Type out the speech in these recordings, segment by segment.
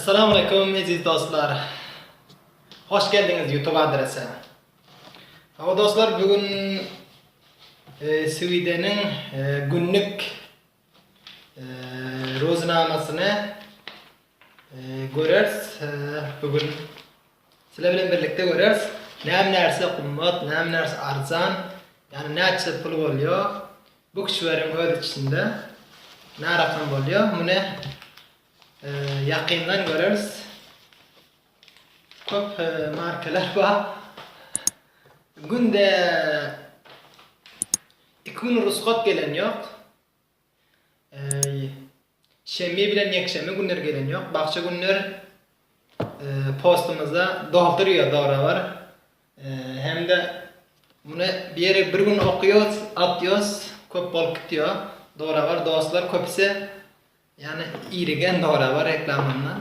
Assalamu aleykum eziz dostlar. Hoş geldiňiz YouTube adrese. Hawa dostlar, bugün e, Swideniň e, günlük e, roznamasyny Göreris bu gün siler bilen birlikde göreris näme närse gymmat näme närse arzan ýagny näçe pul bolýo bu kişileriň öz içinde närakam bolýo muny ýakyndan göreris köp markeler bar günde iki gün rusgat gelen ýok Äý, şenbi bilen ýekşenbi günleri gelen ýok, bagşy günler postumyzda doldurýar zorabr hem-de muny bir ýere bir gün okýas, atýas köp bolup gitýar, zorabr dostlar köpüsi ýany irigen zorabr reklamamdan.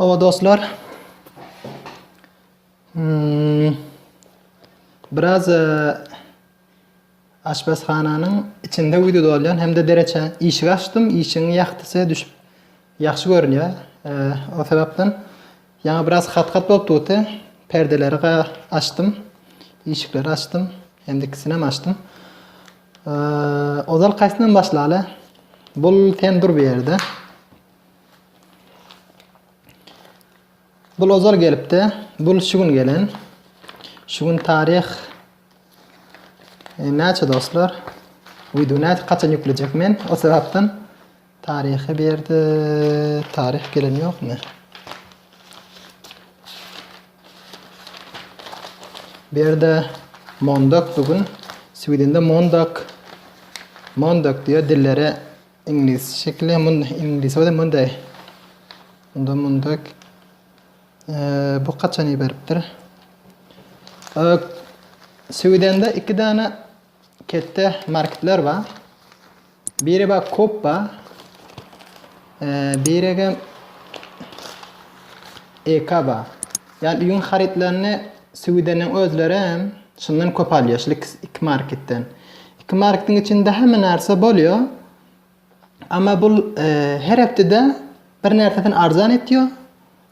Hawa dostlar. Hmm. Biraz e, aşpazhananyň içinde wideo dolýan hem-de dereçe işik açdym, işiň ýagtysy düşüp ýagşy görünýär. E, o sebäpden ýaňy biraz hat-hat bolup durdy. Perdeleri açdym, işikleri açdym, hem-de ikisini hem açdym. Ozal kaysyndan başlaly? Bul sen dur bu yerde. Bul ozal gelipdi. Bul şu gün gelen. Şu gün tarih e, näçe dostlar? Video näçe kaçan yükleyecek men? O sebepten Taryhy bu ýerde taryh gelen ýokmy? Bu ýerde Mondak bu gün Swedende Mondak Mondak diýýär dillere iňlis şekili mun iňlis we Monday. Munda Mondak bu haçan iberipdir? Swedende iki däne Ketde marketler bar. Biri bar kop bar. Biregem eka bar. Yani üyün haritlerini Swideniň özleri hem şundan kop alýar. Şul iki marketden. İki marketin içinde hemme narsa bolýar. Amma bul her hepdede bir närsesini arzan etýo,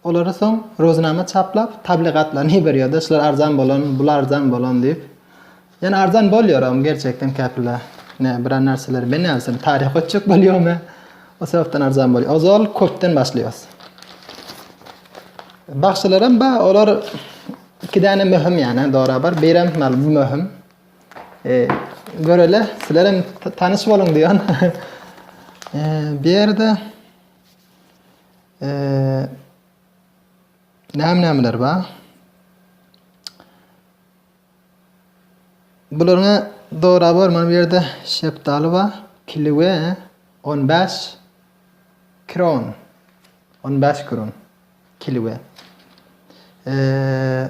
olary soň roznama çaplap tabligatlaryny iberýoda şular arzan bolan, bul arzan bolan diýip. Ýani arzan bolýoram gerçekden käpile. Ne bir närseler men näzim taryh ötjek bolýomy? O sebäpden arzan bolýar. Ozal köpden başlaýas. Bagşylaram ba, olar iki däne möhüm ýani dora bar. Birem mal möhüm. E, görele, sizler hem tanyş boluň diýen. E, bu ýerde e, näme-nämeler bar? Bularyňa dogry bar, mana bu ýerde şepdaly bar. Kiliwe 15 kron. 15 kron. Kiliwe. Eee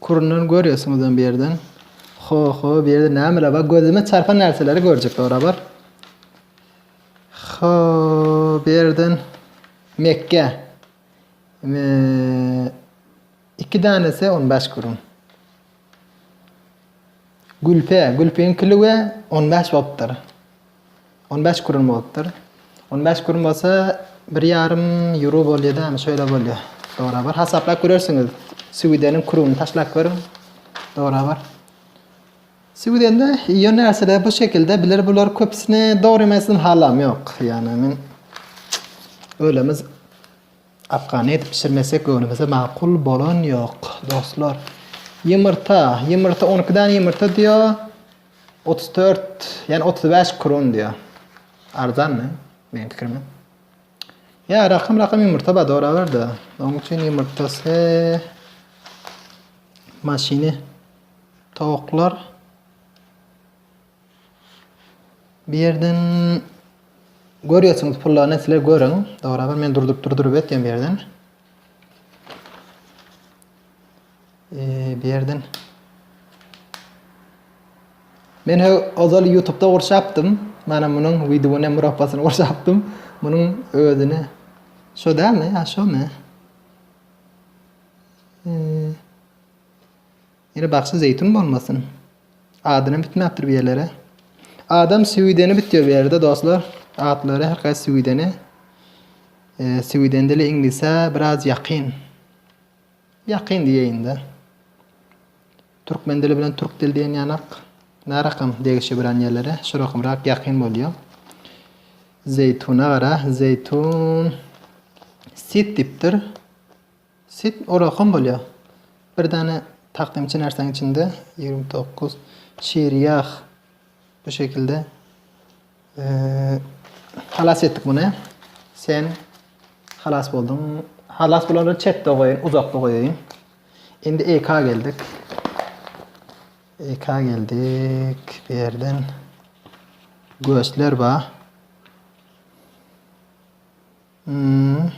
Kurundan görýärsiňiz hem bir ýerden. Ho-ho, bu ýerde nämeler bar? Gözüme çarpan närseleri görjek barabar. Ho, bu ýerden Mekge. Eee, iki danesi 15 kurun. Gülpe, gülpiň kili we 15 bapdyr. On bäş kurun bolupdyr. On bäş kurun bolsa bir ýarym euro bolýada, şöyle bolýar. Dogry bar. Hasaplap görersiňiz. Süwideniň kuruny taşlap görüň. Dogry bar. Süwidende iýen närseler bu şekilde bilir bular köpüsini dogry emesini halam ýok. Ýani men ölemiz afgany edip pişirmesek göwnümize makul bolan ýok dostlar. Ýumurta, ýumurta 12 däne ýumurta diýýär. Otuz dört, ýani otuz bäş kron diýýär. Arzanmy? Meniň pikirimde. Ýa rakym rakym ýumurta bar doraber-de. Onuň üçin ýumurtasy maşyny towuklar bir ýerden görýärsiňiz pullaryny sizler görüň. Doraber men durduryp durduryp etýän bir ýerden. Berden. Men he ozal YouTube-da gurşapdym. Mana munuň wideony murappasyny gurşapdym. Munuň özüne şo dämi? Ha şo me? Ýene bagşy zeýtun bolmasyn. Adyny bitmäpdir bir ýerlere. Adam süwideni bitýär bu ýerde dostlar. Atlary her haýsy süwideni. Süwiden dili iňlise biraz ýakyn. Ýakyn diýeýin-de. Türkmen dili bilen türk dili diýen ýanak närakam degişebilen ýerlere, şu rakamrak ýakyn bolýar. Zeýtuna gara, zeýtun sit diýipdir. Sit olakam bolýar. Bir däne takdymçy närsäň içinde ýigrimi dokuz şir ýag. Bu şekilde halas etdik bunu. Sen halas boldun. Halas bolanları çetde koyayım, uzakta koyayım. Şimdi EK geldik. EK geldik. Bir yerden göğüsler var. Hmm.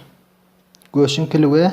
Göğsün pili ve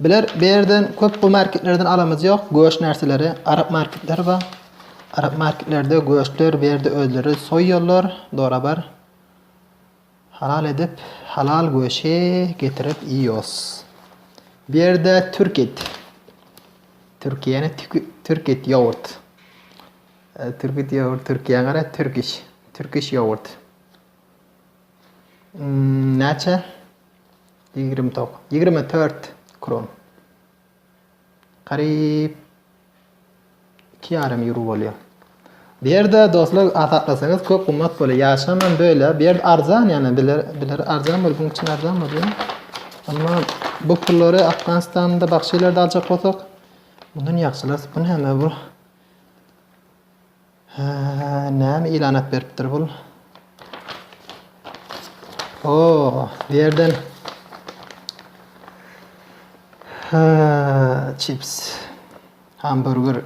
Biler bu ýerden köp bu marketlerden alamyz ýok göç närseleri arap marketleri bar arap marketlerde göçler bu ýerde özleri soýýarlar dorabar halal edip halal göçi getirip iýos bu ýerde türk et türkiýäni türk et ýogurt türk et ýogurt türkiýä gara türkiş türkiş ýogurt näçe Ýigrimi tok. Ýigrimi tört kron. Garyp iki ýarym ýuro bolýar. Bu ýerde dostlar asaklasaňyz köp gymmat bolýar. Ýaşamam böyle. Bu ýerde arzan ýana biler biler arzan bol buň üçin arzan bolýar. Amma bu pullary Afganistanda başga ýerlerde aljak bolsak, bundan ýagşylar bu näme bu? Hä, näme ilanat beripdir bul? O, bu ýerden Hä, çips. Hamburger.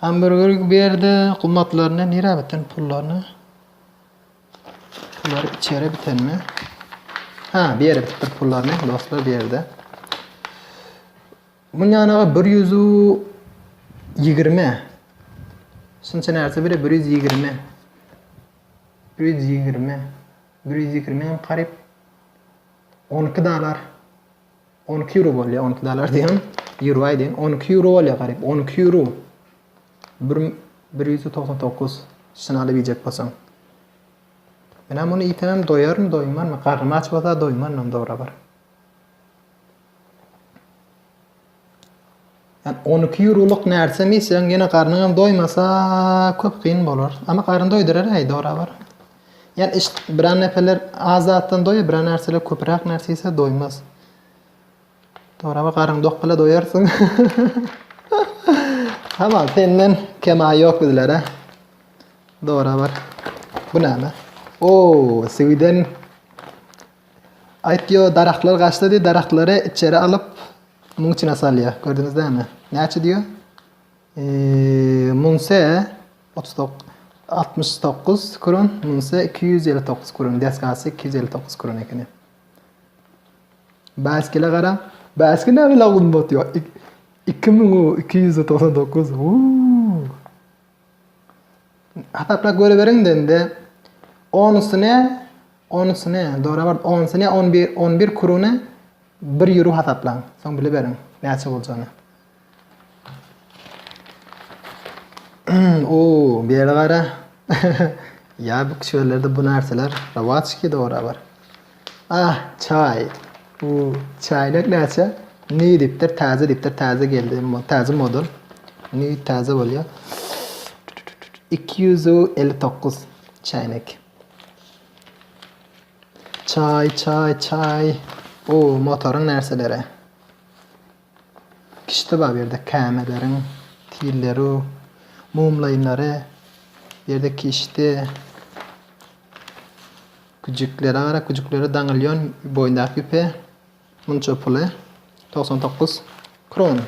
Hamburger bu ýerde gummatlaryny nirä biten pullaryny? Pullary içeri bitenmi? Ha, bir ýere bitipdir pullaryny, dostlar, bir ýerde. Onuň ýanaga bir ýüzü ýigrimi. Şunça närse bile bir ýüz ýigrimi. Bir ýüz ýigrimi. Bir ýüz ýigrimi hem garyp. On iki dalar. On iki euro bolýar. On iki dalar diýen. Euro aýdýan. On iki euro bolýar garyp. On iki euro. Bir, bir ýüz togsan dokuz. Şunu alyp iýjek bolsaň. Men hem muny iýsem doýarmy, doýmarmy? Garnym aç bolsa doýmaryn hem dogry bir. On iki ýurolyk närsem iýseň, ýene garnyňam doýmasa, köp kyn bolar. Ama garyn doýdurar äý, dorabar. Ýa iş, biran neferler az zatdan doýar, biran närseler köpüräk närse iýse doýmaz. Dorabar, garyn dok bile doýarsyň. Tamam, senden kema ýok bizlere. Dorabar. Bu näme? Oo, Sweden. Aýt ýo daragtlar gaçdy diý daragtlary içeri alyp muň içine salýa gördüňiz dämi näçe diýo munse otuz tok altmyş dokuz kron munse iki ýüz elli dokuz kron desgasy iki ýüz elli dokuz kron ekeni baskile garaň baskile näme lagum botýo iki müň iki ýüz togsan dokuz Hasaplap görüberiň dende. Onusy ne? Onusy ne? Dorabart onusy ne? On bir, on bir kurune bir ýuro hasaplaň. Soň biliberiň näçe boljagyny. O, beri gara. Ya bu kişilerde bu narsalar rawaç ki dora bar. Ah, çaý. Bu çaýlar näçe? Nji dipdir, täze dipdir, täze geldi, täze model. Nji täze bolýar. Iki ýüz elli dokuz çaýnak. Çaý, çaý, çaý. O, motoryň närseleri. Kişde bar bu ýerde kämeleriň tilleri, mumlaýynlary, bu ýerde kişdi, güjüklere gara, güjükleri daňylýan boýundaky ýüpe munça puly togsan dokuz kron.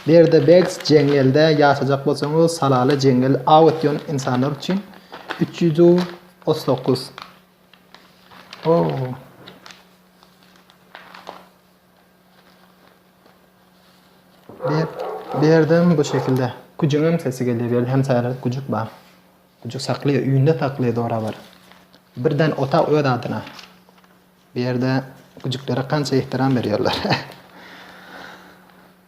Berde Begs jeňňelde ýaşajak bolsaňyz salaly jeňňel aw etýän insanlar üçin üç ýüz otuz dokuz. Oo. Ber, berdim bu şekilde. Güjüňem sesi gelýär, ýerde hem saýradyp güjük bar. Güjük saklaýar, öýünde saklaýar zorabar. Birden otag öz adyna. Bu ýerde güjüklere kança ehtiram berýärler.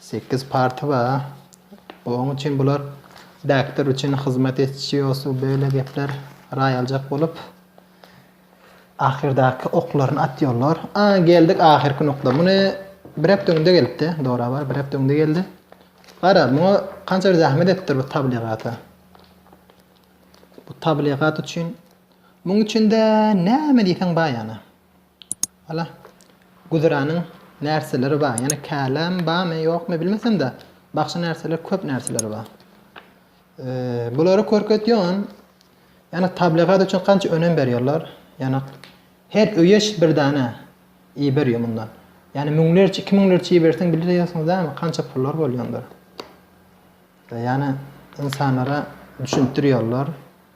Sekiz party bar. Oň üçin bular Däkdir üçin hyzmat etçiosu beýle gepler raýaljak bolup ahyrdaky oklaryny atýollar. A geldik ahyrky nokda. Muny bir hepde öňde gelipdi. Dora bar bir hepde öňde geldi. Gara muňa kança zähmet etdir bu tabligata. Bu tabligat üçin muň üçinde näme diýseň bar ýana. Hala, güzeranyň närseleri bar. Ýöne käläm barmy, ýokmy bilmesem-de, bagşy närseler köp närseleri bar. Bulary görkezýän, ýöne tabligat üçin kança önem berýärler. Ýöne her öýe bir dana iý berýär mundan. Ýöne müňlerçe, iki müňlerçe iý berseň bilýärsiňiz dämi, kança pullar bolýandyr. Ýöne insanlara düşündirýärler.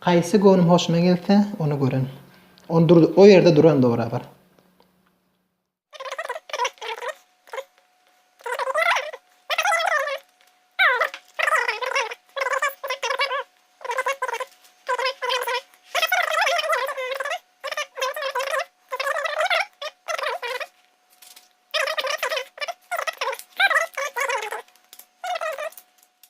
Haýsy göwnüm hoşuna gelse, ony gören. Ony dur, o ýerde duran dograbar.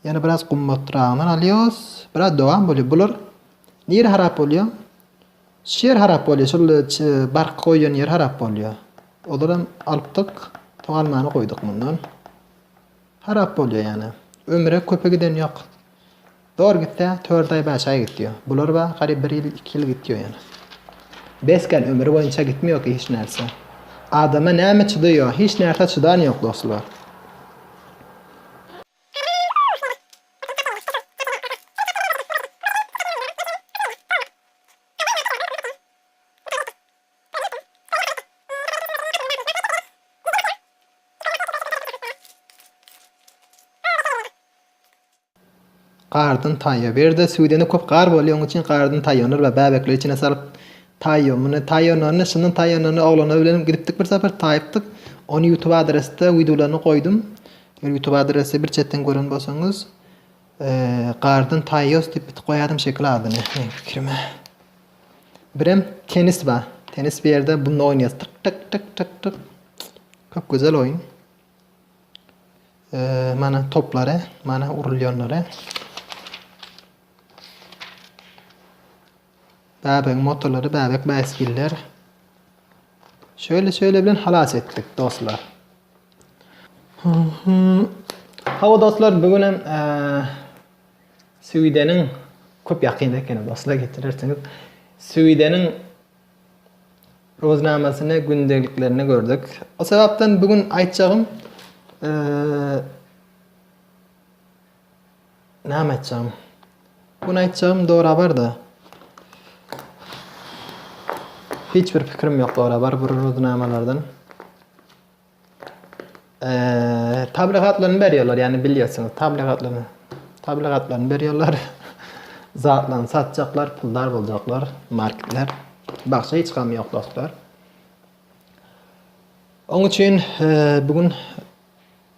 Ýöne biraz gymmatragyndan alýos. Biraz dowam bolýa. Bular nire harap bolýa? Şu ýer harap bolýa. Şol bark goýan ýer harap bolýa. Olaram alypdyk. Togalmany goýduk mundan. Harap bolýa ýane. Ömre köpe giden ýok. Dor gitse 4 aý 5 aý gitýa. Bular ba garyp 1 ýyl 2 ýyl gitýa ýane. Besken ömri boýunça gitme ýok hiç närse. Adama näme çydaýa? Hiç närse çydan ýok dostlar. Gardan taýýa berde süýdeni köp gar bolýa oň üçin gardan taýýanur we bäbekleri içine salyp taýýa muny taýýanurny şundan taýýanurny oglana bilen gidipdik bir sapar taýypdyk ony ýutub adresde widolaryny goýdum Eger ýutub adresi bir çetden gören bolsaňyz gardan taýýos diýip bit goýadym şekil adyny meň pikirime. Birem tenis ba. Tenis bir ýerde bunda oýnaýas. Tyk tyk tyk tyk tyk. Köp gözel oýun. Eee mana toplary, mana urulýanlary. Bäbegiň motolary bäbek bäsgiller. Şöyle şöyle bilen halas etdik dostlar. Hawa dostlar bugün hem Süýdeniň köp ýakyn ekeni dostlar getirersiňiz. Süýdeniň roznamasyny, gündeliklerini gördük. O sebäpden bugün aýtjagym Näme aýtjagym? Bu gün aýtjagym dorabar-da. Hiç bir pikirim ýok dorabar bir ruznamalardan. Eee, tabligatlaryny berýärler, ýagny bilýärsiňiz, tabligatlaryny. Tabligatlaryny berýärler. Zatlaryny satjaklar, puldar boljaklar, marketler. Bagşa hiç gam ýok dostlar. Oň üçin eee, bu gün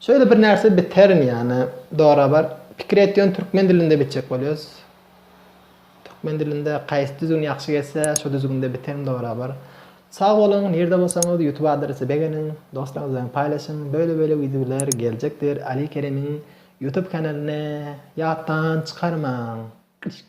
Şeýle bir närse biterin ýane dora bar pikir et ýöne türkmen dilinde bitjek bolýas türkmen dilinde kaýsy düzgün ýagşy geçse şo düzgünde biterin dora bar sag boluň nirde bolsaňyz ýutub adresi begeniň doslaryňyz bilen paýlaşyň böyle böyle wideolar geljekdir ali keremiň ýutub kanalyny ýatdan çykarmaň kişk.